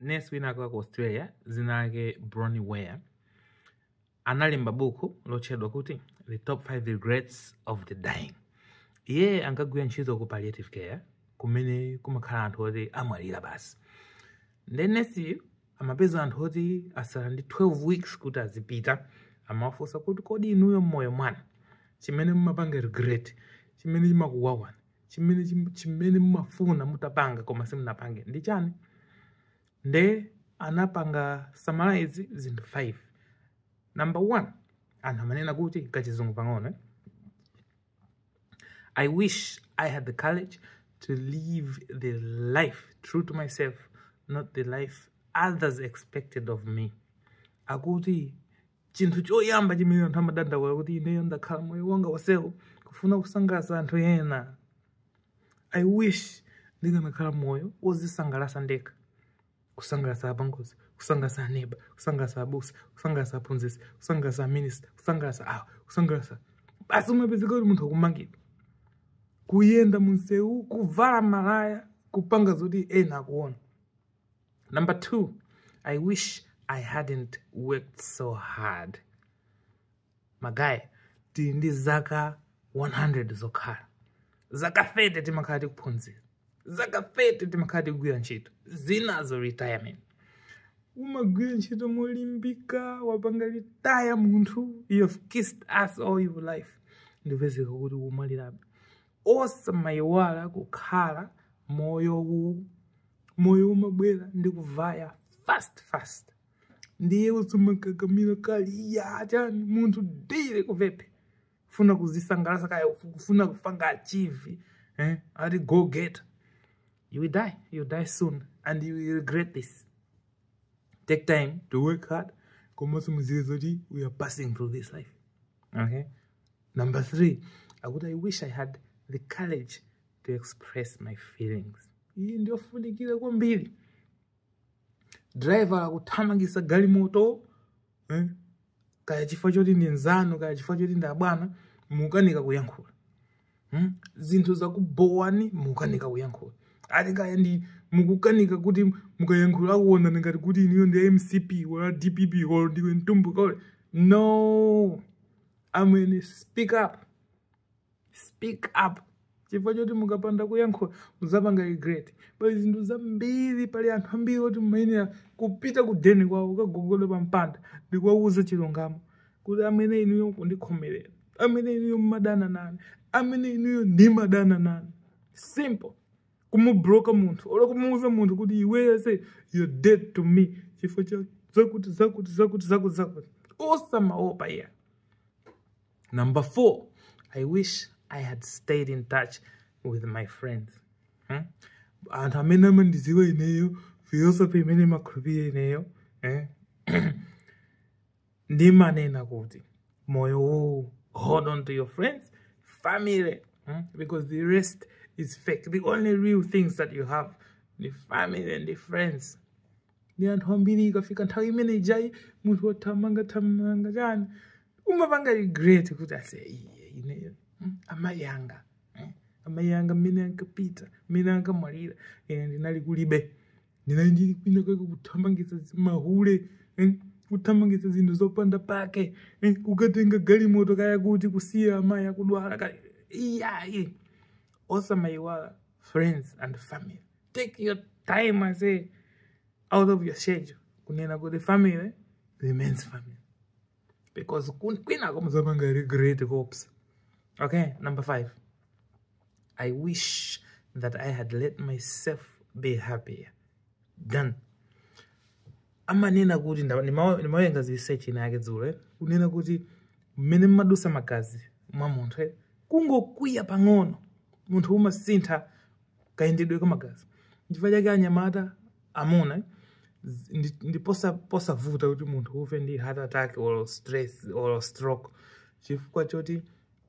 nesi winawake wa ku australia dzina lake bronnie ware analemba buku lotchedwa kuti the top 5 regrets of the dying iye ankagwira ntchito ku palliative care kumene kumakhala anthu oti amwalira basi nde nesiyu amapeza anthu oti asala ndi 12 weeks kuti azipita amawafunsa kuti kodi inuyo mmoyo mwanu chimene mumapanga regret chimene chimakuwawani chimene chim- chimene mumafuna mutapanga koma simunapange ndi chani nde anapanga summarize zinthu 5 number 1 anthu amanena kuti kachizungu pang'ono eh? I wish I had the courage to live the life true to myself, not the life others expected of me. Akuti chinthu choyamba chimene anthu amadandaula kuti ineyo ndakhala moyo wanga wonsewu kufuna kusangalatsa anthu ena i wish ndikanakhala moyo wozisangalatsa ndekha kusangalatsa apongozi kusangalatsa aneba kusangalatsa abusa kusangalatsa aphunzitsi kusangalatsa aminista kusangalatsa awa kusangalatsa basi umapezeka kuti munthu akumangidwa kuyenda munsewu kuvala malaya kupanga zoti ena akuona Number two, I wish I hadn't worked so hard. Magaye, tili ndi zaka 100 zokhala. Zaka 30 timakhala tikuphunzira. Zaka 30 timakhala tikugwira ntchito. Zinazo retirement. umagwira ntchito molimbika wapanga retire munthu you have kissed ass all your life ndikupezeka kuti umwalirabe osamayiwala kukhala moyo uwu moyo umabwera ndi kuvaya fast fast ndiye usamakakamira kali ya chani munthu dile kuvepe kufuna kuzisangalasa kaya kufuna kupanga achieve eh? ati go getter you will die you will die soon and you will regret this take time to work hard komanso muziwe zoti we are passing through this life okay Number three, akuti I wish I had the courage to express my feelings. Iyi ndiyofunikira kwambiri. Driver akuthamangisa galimoto eh? kaya chifukwa choti ndi nzanu kaya chifukwa choti ndi abwana mukukanika kuyankhula hmm? zinthu zakubhowani mukukanika kuyankhula ati kaya ndi mukukanika kuti mukayankhula akuonani ngati kuti inuyo ndi mcp or dpp or ndiwe mtumbuka or no amwene speak up speak up chifukwa choti mukapanda kuyankhula muzapanga regret pali zinthu zambiri pali anthu ambiri oti mumayenera kupita ku deni kwawo kukagogoda pa mpanda ndikuwawuza chilungamo kuti amwene inuyo kundikhomerera amwene inuyo mumadana nane amwene inuyo ndimadana nanu simple kumubloka munthu olo kumuuza munthu kuti iweyo say you're dead to me chifukwa cha zakuti zakuti zakuti zakuti zakuti osamaopa iyayi number four i wish i had stayed in touch with my friends hmm? anthu amene amandiziwa ineyo philosophy imene ndimakhulupirira ineyo eh? ndimanena kuti moyo uwu hold on to your friends family hmm? because the rest is fake the only real things that you have ndi family ndi friends ndi anthu ambiri ikafika nthawi imene ijayi munthu wathamangathamanga chani umapanga regret kuti ase ineyo hmm? amayi anga hmm? amayi anga mmene ankapita mmene ankamwalira ine ndinali kulibe ndinali ndili kwina kwake kuthamangitsa zi- mahule eh, kuthamangitsa zinthu zopanda pake eh, kukatenga galimoto kaya kuti kusiya amayi akudwala kaya iyayi osamayiwala friends and family take your time i say out of your schedule kunena kuti family remains family because kun- kwinako muzapanga regret oops okay number five I wish that I had let myself be happier then amanena kuti nda- ndima- ndimawerenga zi research ina yake dzulo eh, kunena kuti mmene amadutsa magazi mwa munthu eh, kungokwiya pang'ono munthu umasintha kayendedwe ka magazi chifukwa chake anyamata amuna eh, z- ndi- ndi posa- posavuta kuti munthu ufe ndi heart attack or stress or stroke chifukwa choti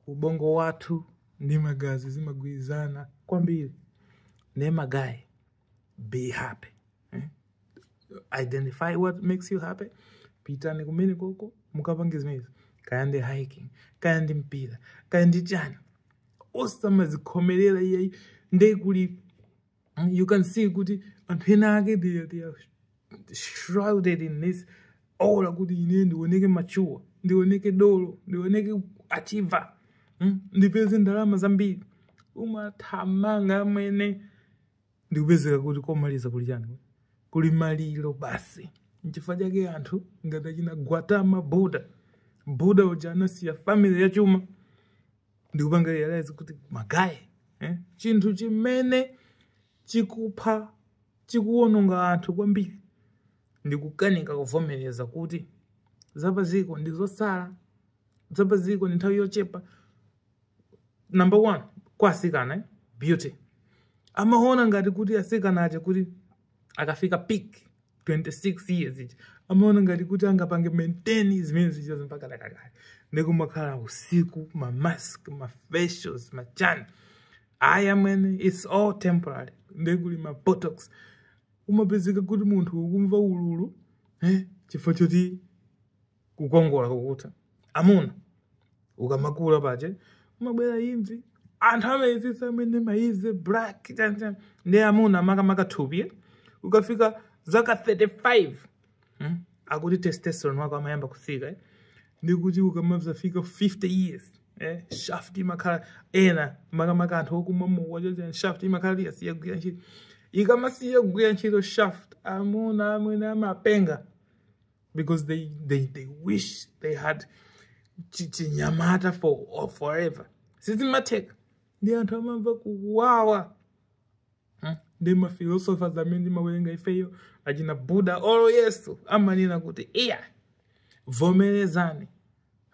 ubongo wathu ndi magazi zimagwirizana kwambiri ne magayi be happy eh? identify what makes you happy pitani kumene koko mukapange zimenezi kaya ndi hiking kaya ndi mpira kaya ndi chani osamazikhomerera iyayi nde kuli you can see kuti anthu ena ake they, they are shrouded in this aura kuti ine ndioneke mature ndioneke dolo ndioneke achiever mm? ndipeze ndalama zambiri umathamanga amwene ndikupezeka kuti komaliza kuli chani kuli maliro basi nchifukwa chake anthu ngati achina Gautama Buddha Buddha uja anasiya family yachuma ndikupanga realize kuti magayi eh? chinthu chimene chikupha chikuwononga anthu kwambiri ndikukanika kuvomereza kuti zapaziko ndi zosala zapaziko ndi nthawi yochepa number one kwa asikana eh? beauty amaona ngati kuti asikana aja kuti akafika peak 26 years ija amaona ngati kuti angapange maintain zimene zijazo mpaka dakakale nde kumakhala usiku ma mask ma facials ma chani ayi amwene its all temporary nde kuli ma botox kumapezeka kuti munthu ukumva ululu eh, chifukwa choti kukongola kukutha amuna ukamakula paja umabwera imvi anthu amayezesa amwene ma easy black chani chani ndi amuna makamaka thupi eh? ukafika zaka 35 hmm? akuti testosterone wako amayamba kusika eh? ndikuti ukamazafika 50 years eh? shaft imakhala ena makamaka anthu okumwa mowa chani chani shaft imakhala yasiya kugwira ntchito ikamasiya kugwira ntchito shaft amuna amwene amapenga because they, they, they wish they had chinyamata for or forever sizimatheka ndi anthu amamva kuwawa Hmm? ndi maphilosophers amene timawerenga ifeyo achina buddha olo yesu amanena kuti iya vomerezani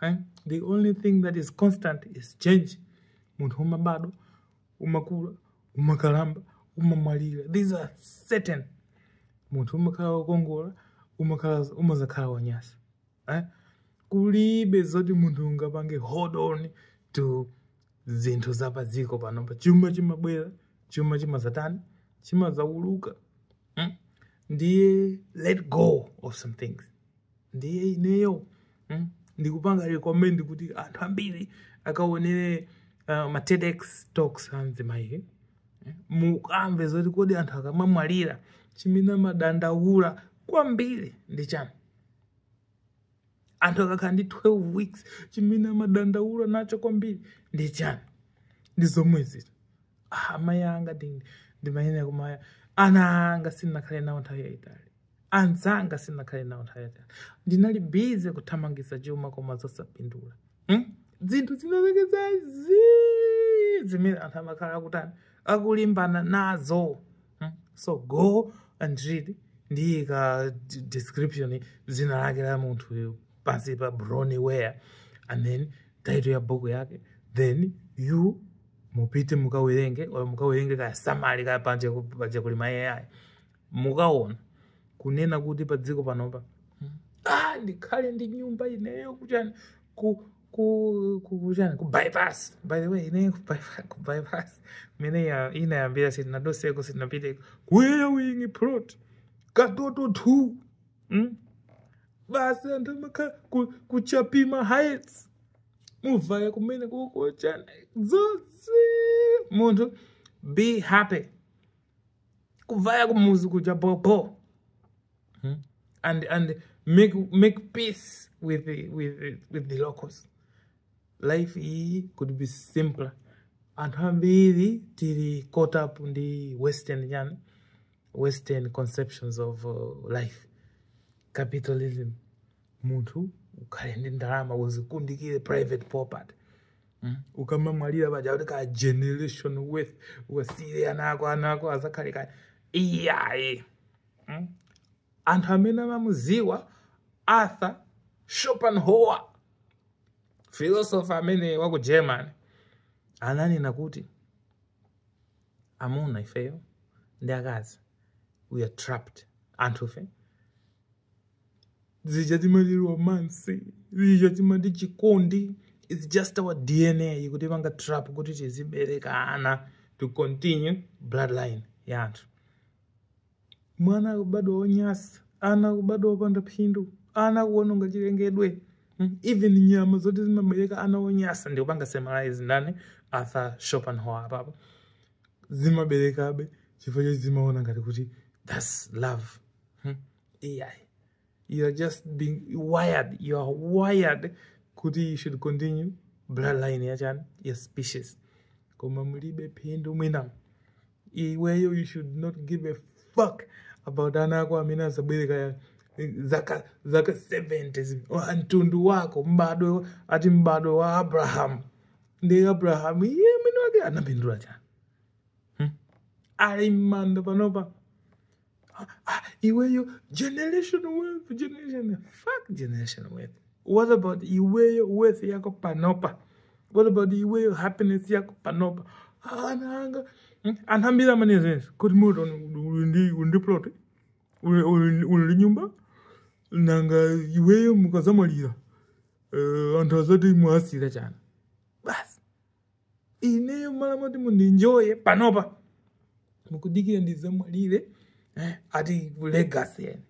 Eh? the only thing that is constant is change munthu umabadwa umakula umakalamba umamwalira these are certain munthu umakhala wokongola umakhala umazakhala wanyasa eh? kulibe zoti munthu ungapange hold on to zinthu za padziko panopa chuma chimabwera chuma chimazatani chimazauluka mm? ndiye let go of some things ndiye ineyo mm, ndikupanga recommend kuti anthu ambiri akaonere uh, ma TEDx talks a nzimayi eh, mukamve zoti kodi anthu akamamwalira chimene amadandaula kwambiri ndi chani anthu akakhala ndi 12 weeks chimene amadandaula nacho kwambiri ndi chani ndi zomwe ziti ah, amayi anga ndi- ndimayenera kumaya ana anga sindinakhale nawo nthawi yayitali anzanga sinakhale nawo nthawi yatali ndinali busy kuthamangisa chuma koma zosapindula hmm? zinthu zinazake zazii zimene anthu amakhala akutani akulimbana nazo hmm? so go and read ndiyika d- description zina lake la munthu pansipa Bronnie Ware and then title ya book yake then you mupite mukawerenge or mukawerenge kaya summary kaya manje manje kuli ma AI mukaona kunena kuti pa dziko panopa hmm, ah, ndikhale ndi nyumba ineyo kuchani ku ku ku kuchani ku bypass by the way ineyo ku bypass, ku bypass. mmene inayambira sitinaduseko sitinapiteko ku airwing plot katoto 2 hmm? basi anthu amakhala ku- ku chapima heights muvaya kumene kukochana dzodzi munthu be happy kuvaya kumuzi kuja bobo hmm? and and make make peace with the, with the, with the locals life iyi could be simpler anthu ambiri tili caught up ndi western chani western conceptions of uh, life capitalism munthu ukhale ndi ndalama uzikundikire private property Mm. ukamamwalira paja kuti ka generation wealth wasiyire ana ako ana ako azakhale kaye iyayi mm? anthu amene amamuziwa arthur schopenhauer philosopher amene wa ku germany ananena kuti amuna ifeyo ndi akazi we are trapped anthufe zija timati romance zija timati chikondi its just our dna ikutipanga trap kuti tizibereka ana to continue bloodline ya anthu mwana akubadwa wonyasa ana akubadwa wopanda phindu ana akuwononga chilengedwe Mm, even nyama zonse zimabereka ana onyasa ndikupanga summarize ndani arthur schopenhauer apapo zimaberekabe chifukwa choti zimaona ngati kuti thats love Hmm? ai you are just being wired you are wired kuti you should continue bloodline yachani your species koma mulibe phindu mwina iweyo you should not give a fuck about ana ako amene azaberekedwa zaka zaka 70 zi- wa- mtundu wako mbadwe ati mbadwe wa abrahamu ndi abrahamu iye mwini wake anapindula chani ali m'manda panopa Ah, ah, iweyo generation wealth generation fuck generation wealth what about iweyo wealth yako panopa what about iweyo happiness yako panopa ananga hmm, anthu ambiri amanena kuti mtown uli ndi plot uli ndi nyumba nanga iweyo mukazamwalira uh, anthu azati mwasiyira chani ineyo mmalo moti mundinjoye panopa mukudikira ndizamwalire eh, ati legacy yani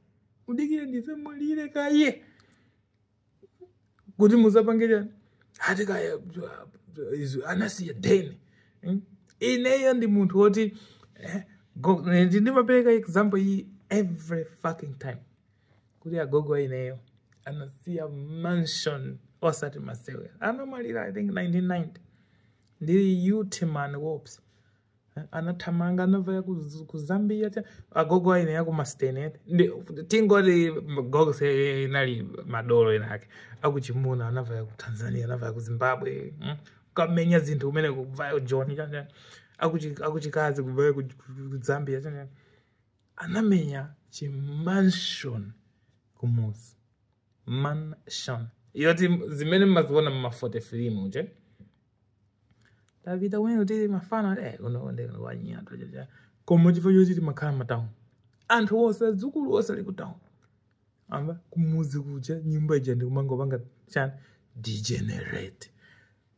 mudikire ndizamwalire kaye kuti muzapange chani ati kaya izo anasiya deni Mm. ineyo ndi munthu woti eh, go- ndi- ndimapereka example iyi every fucking time kuti agogo aineyo anasiya mansion osati masewe anamwalira i think 1990 ndili youth man wops anathamanga anavaya ku- ku zambia cha agogo aine ya kumastenet tingoti gogo se inali madolo inake akuchimuna anavaya ku tanzania anavaya ku zimbabwe mm. kamenya zinthu kumene kuvaya john chanja akuchikazi kuvaya ku ku- ku zambia chanja anamenya chi mansion kumuzi mansion yoti zimene mmaziona mmafote filimu nde tapita kumene kuti mafana eh kuno ndi wanyata chacha koma chifukwa choti timakhala matauni anthu onse adzukulu onse ali kutauni amba kumuzi kuja nyumba ija ikumangopanga chani degenerate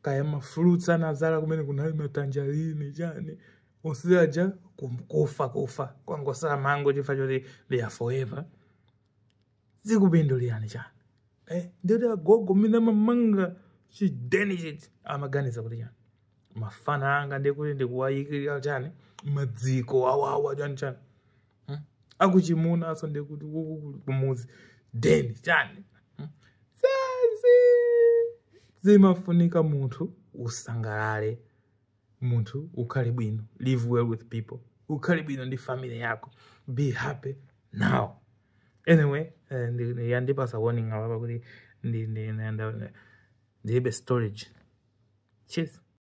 kaya mafruits anazala kumene kunali matanjarini chani onse aja kum- kufa kufa kwangosala mango chifukwa choti they are forever zikupindulirani chani eh, ndiyeti agogo mmene amamanga chideni chija amaganiza kuti chani mafana anga ndikuti ndikuwayikira chani madziko awawa chani chani hmm? akuchimuna aso ndekuti kukukulu kumuzi deni chani hmm? basi zimafunika munthu usangalale munthu ukhale bwino live well with people ukhale bwino ndi family yako be happy now anyway eh, ndi- ndi- yandipasa warning apa kuti ndi- ndi- ndi- ndi- ndilibe storage cheers